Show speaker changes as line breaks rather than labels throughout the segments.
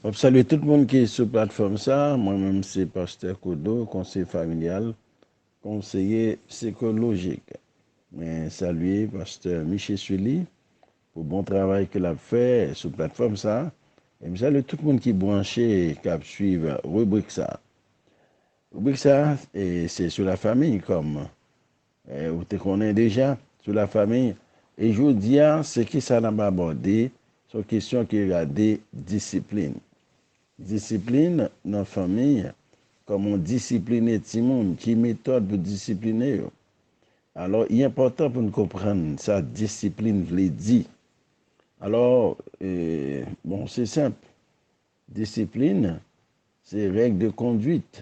Map salye tout moun ki sou platfòm sa, mwen menm se pastè Kodo, konseye familyal, konseye sikolojik. Mwen salye pastè Miche Sully pou bon travay ke lap fè sou platfòm sa, e m salye tout moun ki branche kap swiv ribrik sa. Ribrik sa se sou la famiy kòm Ou te konnen deja sou la famiy e jodia se kisa nap abòde se yon kesyon ki rade disiplin. Disiplin nan famiy kòman ou disipline timoun ki metòd pou disipline yo. Alò i enpòtan pou nou konprann sa disiplin vle di. Alò bon se senp Disiplin se règ de konduit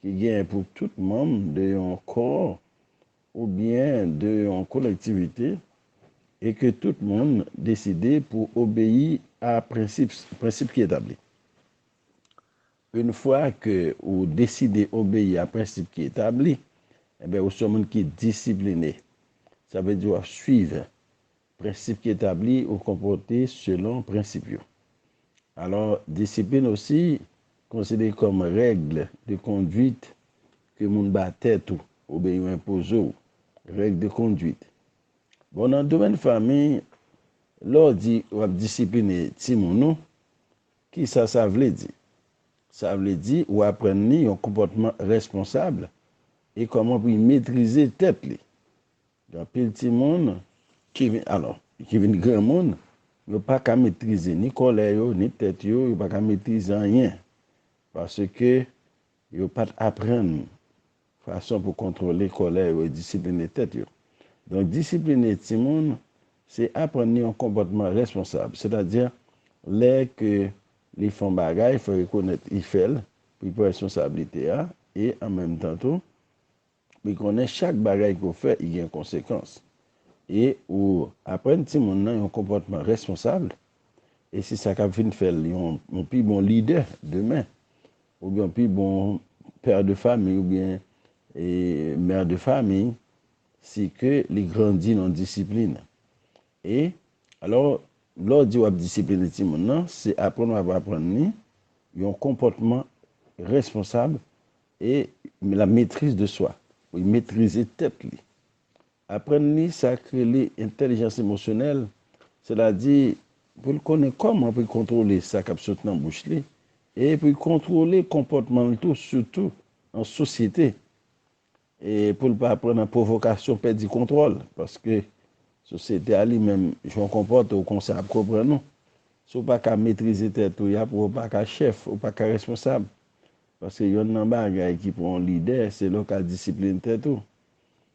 ki genyen pou tout manm de yon kò oubyen de yon kolektivite e ke tout moun deside pou obeyi a prensip ki etabli. Une fwa ke ou deside obeyi a prensip ki etabli, enben ou se yon moun ki disipline. Sa vle di w ap swiv Prensip ki etabli ou konpòte selon prensip yo. Alò, disiplin osi konsidere kòm règle de conduite ke moun ba tèt ou oubyen yo enpoze w, règle de conduite. Bon, nan domèn fanmi, lè w di w ap disipline timoun ou, kisa sa vle di? Sa vle di ou aprann li yon konpòtman responsab e kòman pou li metrize tèt li. Gen anpil timoun ki vin alò, ki vin granmoun, yo pa ka metrize ni kòlè yo, ni tèt yo, yo pa ka metrize anyen, paske yo pa t aprann fason pou kontwole kòlè yo e disipline tèt yo. Donk, disipline timoun, se aprann li yon konpòtman responsab, sètadi, lè ke li fè yon bagay, fò l rekonèt li fè l, pou li pran responsablite a, e an menm tan tou, Li konnen chak bagay ke w fè i gen konsekans e ou aprann timoun nan yon konpòtman responsab e se sa kap vin fè l yon pi bon lidè demen oubyen yon pi bon pè de famiy oubyen mè de famiy si ke li grandi nan disiplin e alò lè w di wap disipline timoun nan se aprann wap aprann li yon konpòtman responsab E la maîtrise de soi, pou li metrize tèt li. Aprann li sa k rele entèlijans emosyonèl, sètadi pou l konnen kòman pou l kontwole sa k ap sot nan bouch li e pou l kontwole konpòtman l tou, sitou an sosyete. E pou l pa pran nan pwovokasyon pèdi kontwòl, paske sosyete a li menm, jan w konpòte w konsa y ap konprann ou. Si w pa ka metrize tèt ou, y ap wè w pa ka chèf, ou pa ka responsab. Paske yonn nan bagay ki pou yon lidè, se lè w ka disiplin tèt ou.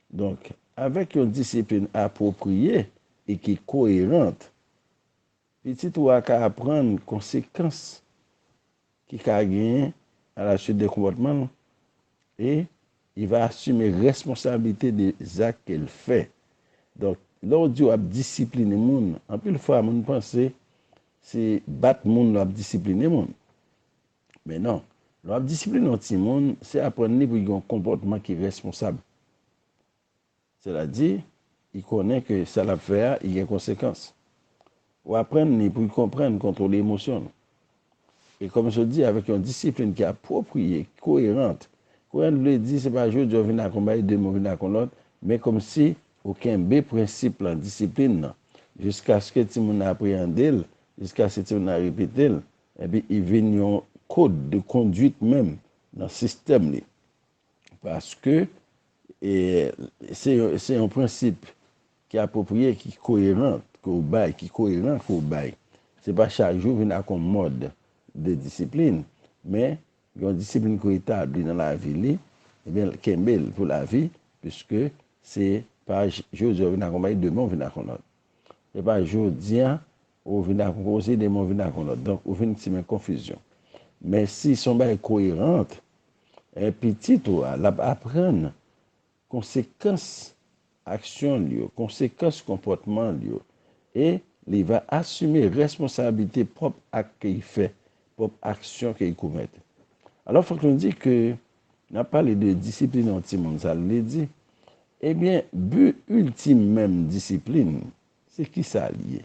Donk, avèk yon disiplin apwopriye e ki koyerant, pitit ou a ka aprann konsekans ki ka genyen alasuit de konpòtman l e li va asime responsablite de zak ke l fè. Donk, lè w di w ap disipline moun, anpil fwa moun panse se bat moun l ap disipline moun. Men non, lè w ap disipline yon timoun, se aprann li pou l gen yon konpòtman ki responsab. Sètadi, li konnen ke sa l ap fè a, li gen konsekans. Ou aprann li pou l konprann, kontwole emosyon l. E kòm sot di, avèk yon disipline ki apwopriye, ki koyerant. Koyerant vle di, se pa jodi a ou vin ak yon bagay, demen ou vin ak yon lòt, men kòmsi ou kenbe prensip lan, disipline lan, jiskaske timoun nan apreyande l, jiskaske timoun nan repete l, Epi i vin yon code de conduite menm nan sistèm li. Paske se yon prensip ki apwopriye, ki koyeran ke ou bay, ki koyeran ke ou bay. Se pa chak jou vin ak yon mòd de disiplin, men yon disiplin ke ou etabli nan lavi li, ebyen l kenbe l pou lavi, piske se pa jodi a ou vin ak yon bagay, demen ou vin ak yon lòt. Se pa jodi a Ou vin ak yon koze, demen ou vin ak yon lòt. Donk, ou vin simen konfizyon. Men si se yon bagay koyerant, pitit ou a, l ap aprann konsekans aksyon l yo, konsekans konpòtman l yo e li va asime responsabilite pwòp ak ke li fè, pwòp aksyon ke li komèt. Alò, fòk nou di ke n ap pale de disipline yon timoun. Sa vle di, ebyen, bi iltim menm disiplin Se kisa li ye?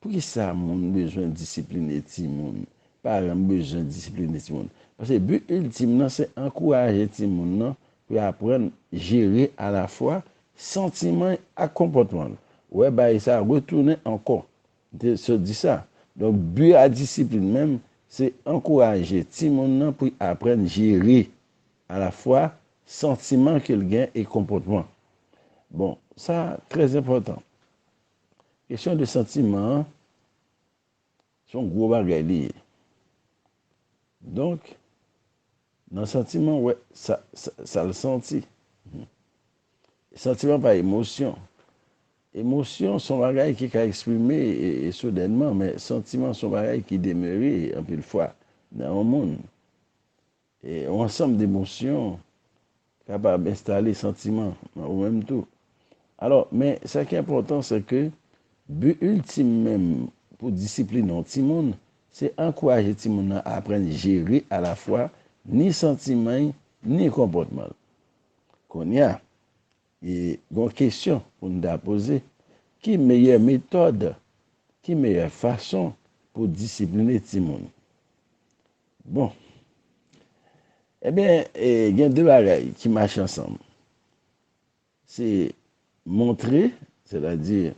Poukisa moun bezwen disipline timoun? Paran bezwen disipline timoun. Paske bi iltim nan se ankouraje timoun nan pou l aprann jere alafwa santiman l ak konpòtman l. Wè bay sa retounen ankò. M te sot di sa. Donk bi a disiplin menm se ankouraje timoun nan pou l aprann jere Alafwa santiman ke l gen e konpòtman. Bon, sa trè enpòtan. Kesyon de santiman an, se yon gwo bagay li ye. Donk, nan santiman w wè sa l santi. Santiman pa emosyon. Emosyon se yon bagay ki ka eksprime soudènman, men santiman se yon bagay ki demere anpil fwa nan yon moun. Yon ansanm de emosyon kapab enstale santiman nan ou menm tou. Alò, men sa ki enpòtan se ke bi iltim menm pou disipline yon timoun se ankouraje timoun nan aprann jere alafwa ni santiman y ni konpòtman l. Kounye a, gen yon kesyon pou n ta poze, ki meyè metòd, ki meyè fason pou disipline timoun? Bon. Ebyen, gen de bagay ki mache ansanm. Se montre, sètadi,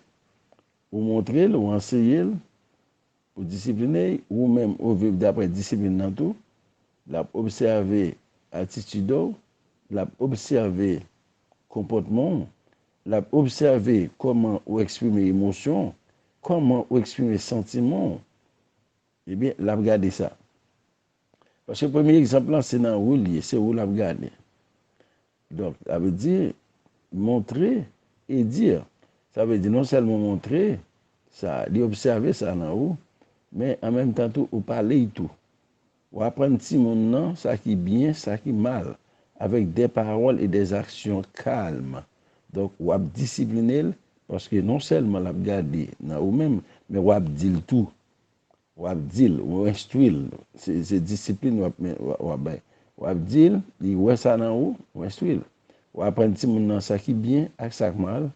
ou montre l, ou anseye l, ou disipline l, ou menm ou viv dapre disiplin nan tou, l ap obsève atitid ou, l ap obsève konpòtman ou, l ap obsève kòman ou eksprime emosyon ou, kòman ou eksprime santiman ou. Ebyen lap gade sa. Paske premye egzanp lan se nan ou li ye, se ou lap gade. Donk sa vle di montrer et dire. Sa vle di non sèlman ou montre sa, li obsève sa nan ou, men an menm tan tou ou pale y tou. Ou aprann timoun nan sa ki byen, sa ki mal, avèk des paroles et des actions calmes. Donk wap disipline l paske non sèlman lap gade nan ou menm, men wap di l tou W ap di l, ou enstwi l. Se disiplin w ap bay. W ap di l, li wè sa nan ou, ou enstwi l. W ap aprann timoun nan sa ki byen ak sa k mal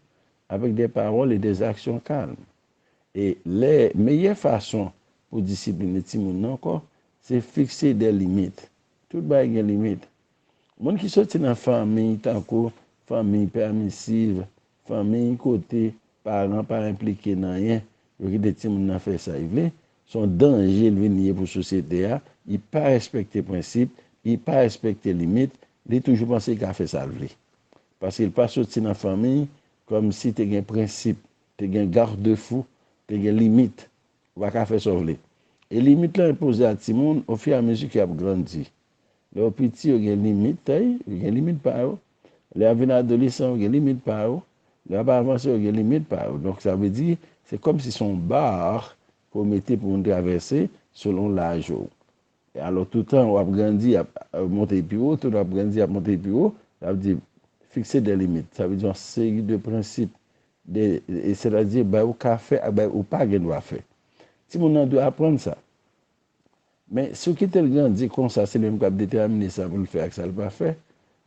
avèk de pawòl e de zaksyon kalm. E lè meyè fason pou disipline timoun nan ankò, se fikse de limit. Tout bagay gen limit. Moun ki soti nan fanmiy tankou fanmiy pèmisiv, Fanmiy kote paran pa enplike nan anyen, yo kite timoun nan fè sa y vle, s on danje l vin ye pou sosyete a, y pa respekte prensip, y pa respekte limit, li toujou panse y ka fè sa l vle. Paske l pa soti nan fanmiy kòm si te gen prensip, te gen garde fou, te gen limit, ou pa ka fè sa w vle. E limit lan enpoze a timoun ofiramezi ke y ap grandi. Lè yo piti, yo gen limit tè y, yo gen limit pa yo. Lè y ap vin adolesan, yo gen limit pa yo. Lè y ap avanse, yo gen limit pa yo. Donk sa vle di, se kòm si se yon bar ke w mete pou moun travèse selon laj ou. E alò toutan w ap grandi, y ap monte pi wo, toutan w ap grandi, y ap monte pi wo, l ap di, fixer des limites, sa vle di yon seri de prensip, de, sètadi bay ou ka fè ak bay ou pa gen dwa fè. Timoun nan dwe aprann sa. Men, si w kite l grandi konsa, se li menm k ap detèmine sa pou l fè ak sa l pa fè,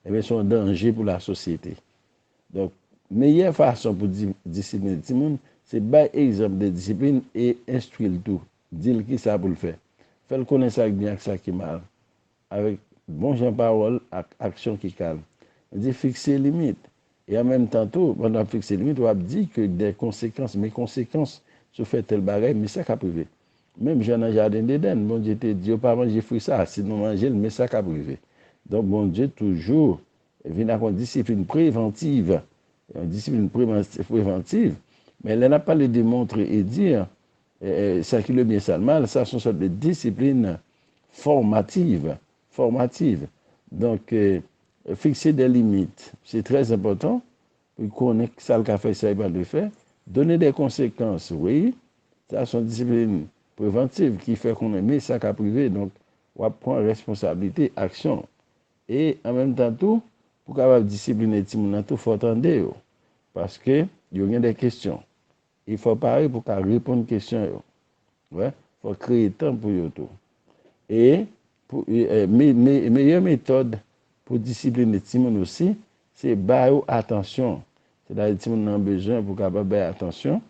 enben se yon danje pou lasosyete. Donk, meyè fason pou disipline timoun, se bay egzanp de disiplin e enstwi l tou, di l kisa pou l fè. Fè l konnen sa k byen ak sa ki mal. Avèk bon jan pawòl ak aksyon ki kalm, nou di fikse limit. E an menm tan tou, pandan w ap fikse limit, w ap di ke gen konsekans, men konsekans si w fè tèl bagay, men sa k ap rive. Menm jan nan jaden Dedenn, Bondye te di yo pa manje fwi sa a, si nou manje l, men sa k ap rive. Donk Bondye toujou vin ak yon disiplin prevantiv, yon disiplin prevantiv. Men lè n ap pale de montre e di, Sa ki lebyen sa lmal, sa son sòt de disiplin fòmativ, formative. Donk fikse de limit, se trè enpòtan pou li konnen sa li ka fè, sa li pa dwe fè. Done de konsekans, wi, sa son disiplin prevantiv ki fè konnen me sa kap rive, donk wap pran responsablite aksyon w. E an menm tan tou, pou kapab disipline timoun nan tou fò w tande yo, paske yo gen de kesyon E fò w pare pou w ka reponn kesyon yo. Wè, fò w kreye tan pou yo tou. E, pou, meyè metòd pou disipline timoun osi, se ba yo atansyon. Sètadi timoun nan bezwen pou w kapab ba l atansyon,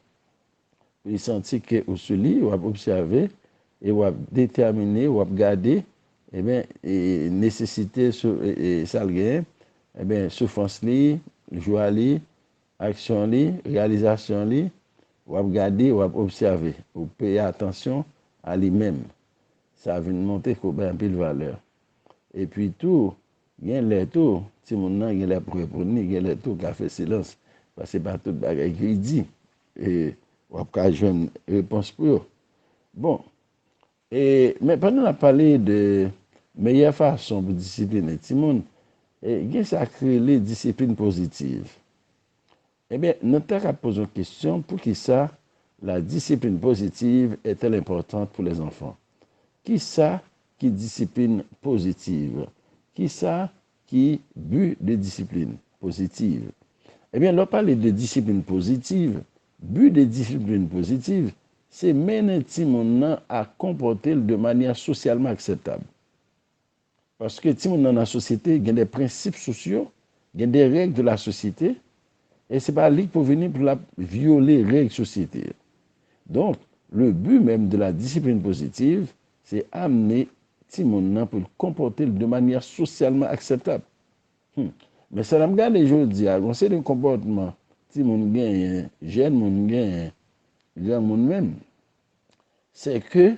pou li santi ke ou sou li, w ap obsève, e w ap detèmine, w ap gade, eben, nesesite, sa l genyen, eben, soufrans li, jwa li, Aksyon li, reyalizasyon li, w ap gade, w ap obsève, ou peye atansyon a li menm. Sa vin monte kou bay anpil valè. Epi tou, gen lè tou, timoun nan gen lè ap reponn li, gen lè tou ka fè silans, paske se pa tout bagay ke li di, e w ap ka jwenn repons pou yo. Bon, E, men pandan n ap pale de meyè fason pou disipline timoun, e gen sa k rele disiplin pozitiv. Enben, nou ta ka poze yon kesyon, Poukisa la discipline positive est-elle importante pour les enfants? Ki sa ki disiplin pozitiv? Ki sa ki but de discipline positive? Enben, lè w pale de disiplin pozitiv, Bi de disiplin pozitiv se mennen timoun nan a konpòte l de manyè sosyalman akseptab. Paske timoun nan nan sosyete, gen de prensip sosyo, gen de règ de la sosyete, e se pa li k pou vini pou l ap vyole règ sosyete. Donk, le bi menm de la disiplin pozitiv se amne timoun nan pou l konpòte l de manyè sosyalman akseptab. Humm men sa nap gade jodia gon seri konpòtman timoun genyen jèn moun genyen granmoun menm sè ke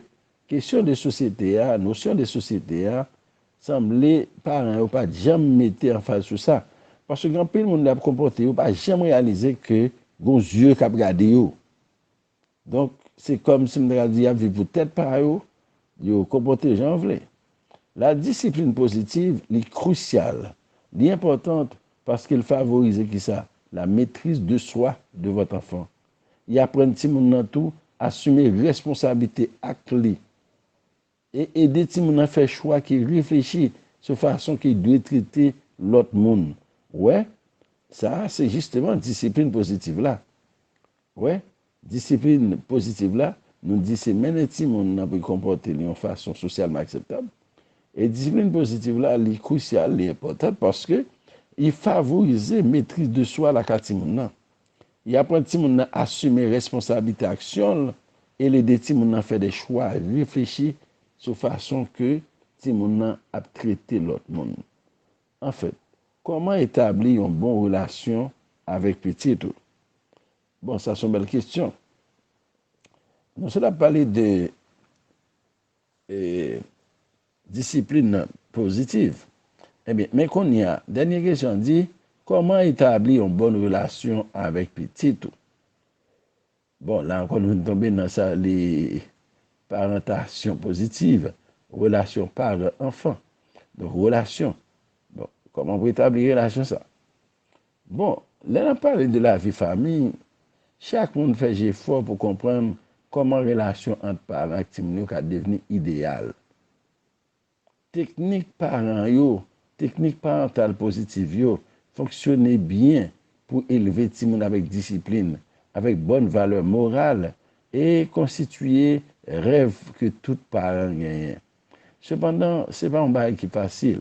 kesyon de sosyete a nosyon de sosyete a sanble paran yo pat janm mete anfaz sou sa paske gen anpil moun lè yap konpòte yo pa janm reyalize ke gon zye kap gade yo Donk, se kòm si m ta ka di y ap viv pou tèt pa yo, yo konpòte jan yo vle. La disiplin pozitiv, li krisyal, li enpòtant paske l favorize ki sa? La metriz de swa de vòt anfan. Li aprann timoun nan tou asime responsablite ak li. E ede timoun nan fè chwa ki reflechi sou fason ki dwe trete lòt moun. Wè, sa a se jisteman disiplin pozitiv la. Wè, disiplin pozitiv la, nou di se mennen timoun nan pou l konpòte l yon fason sosyalman akseptab. E disiplin pozitiv la, li krisyal, li enpòtan paske li favorize metriz de swa lakay timoun nan. Y aprann timoun nan asime responsablite aksyon l e l ede timoun nan fè de chwa reflechi sou fason ke timoun nan ap trete lòt moun. Anfèt, kòman etabli yon bon relasyon avèk pitit ou? Bon, sa s on bèl kesyon. Nou sot ap pale de Disiplin nan pozitiv. Ebyen, men kounye a, dènye kesyon an di, Kòman etabli yon bòn relasyon avèk pitit ou? Bon, la ankò nou vin tonbe nan sa li parantasyon pozitiv, relasyon paran-anfan. Donk, relasyon. Bon, kòman pou etabli relasyon sa a? Bon, lè n ap pale de lavi fanmi, chak moun fè jefò pou konprann kòman relasyon ant paran ak timoun yo ka devni ideyal. Teknik paran yo, teknik parantal pozitiv yo, fonksyone byen pou elve timoun avèk disiplin, avèk bòn valè moral, e konstitiye rèv ke tout paran genyen. Sepandan, se pa yon bagay ki fasil.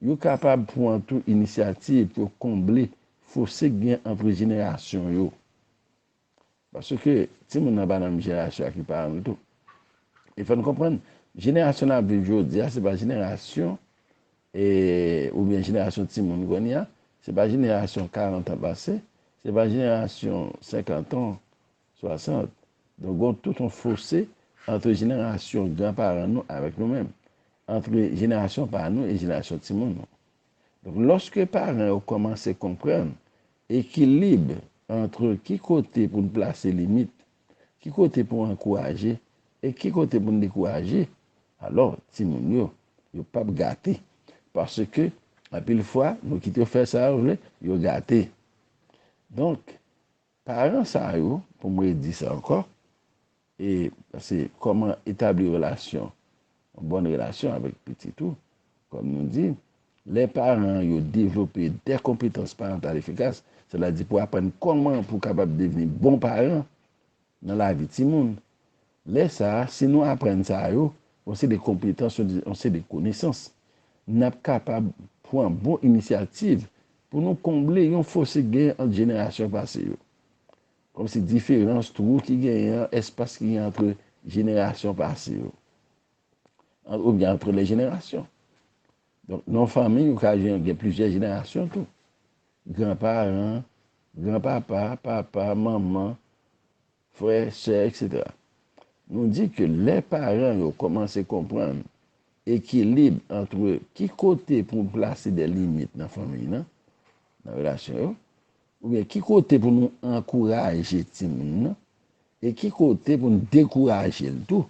Yo kapab pwan tou inisyativ pou yo konble fose k gen antre jenerasyon yo. Paske timoun nan pa nan menm jenerasyon ak li paran l tou. E fò n konprann, jenerasyon n ap viv jodi a se pa jenerasyon e oubyen jenerasyon timoun kounye a, se pa jenerasyon karantan pase, se pa jenerasyon senkantan 60, Donk gon tout yon fose antre jenerasyon gran paran nou avèk nou menm, antre jenerasyon pa nou e jenerasyon timoun nou. Donk lòske paran yo kòmanse konprann ekilib antre ki kote pou n plase limit, ki kote pou ankouraje e ki kote pou n dekouraje, alò timoun yo, yo p ap gate. Paske anpil fwa nou kite yo fè sa yo vle, yo gate. Donk Paran sa yo, pou m redi sa ankò, e se kòman etabli relasyon, yon bòn relasyon avèk pitit ou, kòm nou di, lè paran yo devlope de konpetans parantal efikas, sètadi pou aprann kòman pou kapab devni bon paran nan lavi timoun, Lè sa a, si nou aprann sa yo, yon seri de konpetans, yon seri de konesans, n ap kapab pran bon inisyativ pou nou konble yon fose ki genyen ant jenerasyon pase yo. Kòmsi diferans, twou ki genyen an, espas ki genyen antre jenerasyon pase yo, ant oubyen antre lè jenerasyon. Donk, nan yon fanmi, ou ka gen plizyè jenerasyon tou. Gran paran, gran papa, papa, manman, Frè, sè, etc. Nou di ke lè paran yo kòmanse konprann ekilib antre ki kote pou plase de limit nan fanmiy nan, nan relasyon yo, oubyen ki kote pou nou ankouraje timoun nan, e ki kote pou nou dekouraje l tou,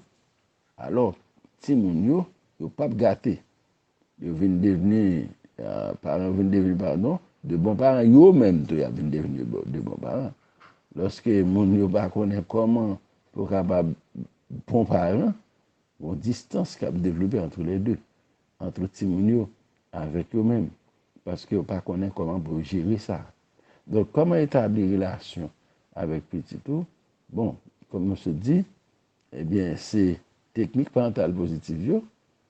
alò timoun yo, yo pap gate, Yo vin devni paran, yo vin devni paran, de bon paran, yo menm tou y ap vin devni de bon paran. Lòske moun yo pa konnen kòman pou kapab bon paran, yon distans k ap devlope antre lè de, antre timoun yo avèk yo menm, paske yo pa konnen kòman pou yo jere sa. Donk, kòman etabli relasyon avèk pitit ou? Bon, kòm nou sot di, ebyen se teknik parantal pozitif yo.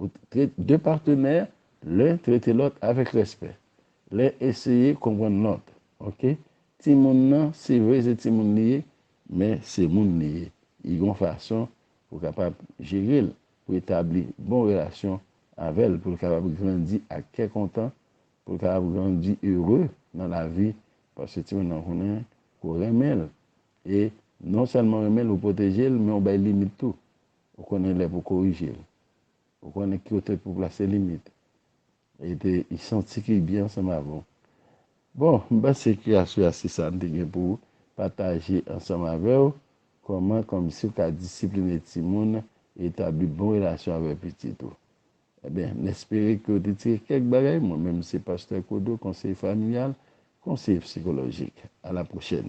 Ou trete de patenè, len trete lòt avèk respè. Len eseye konprann lòt. Ok. Timoun nan, se vre se timoun li ye, men se moun li ye. I gon fason pou kapab jere l, pou etabli bon relasyon avè l, pou l kapab grandi ak kè kontan, pou l kapab grandi ere nan lavi, paske timoun nan konnen ke w renmen l. E non sèlman renmen l, ou pwoteje l, men ou bay limit tou. Ou konnen lè pou korije l. Ou konnen ki kote pou plase limit. E te y santi ki byen ansanm avè w. Bon, m panse kreyasyon a se sa m te gen pou pataje ansanm avè w, kòman kòmsi w ka disipline timoun e etabli bon relasyon avè pitit ou. Enben, m espere ke w te tire kèk bagay. Mwen menm se Pastè Kodo, konseye familyal, konseye psikolojik. A la pwochèn!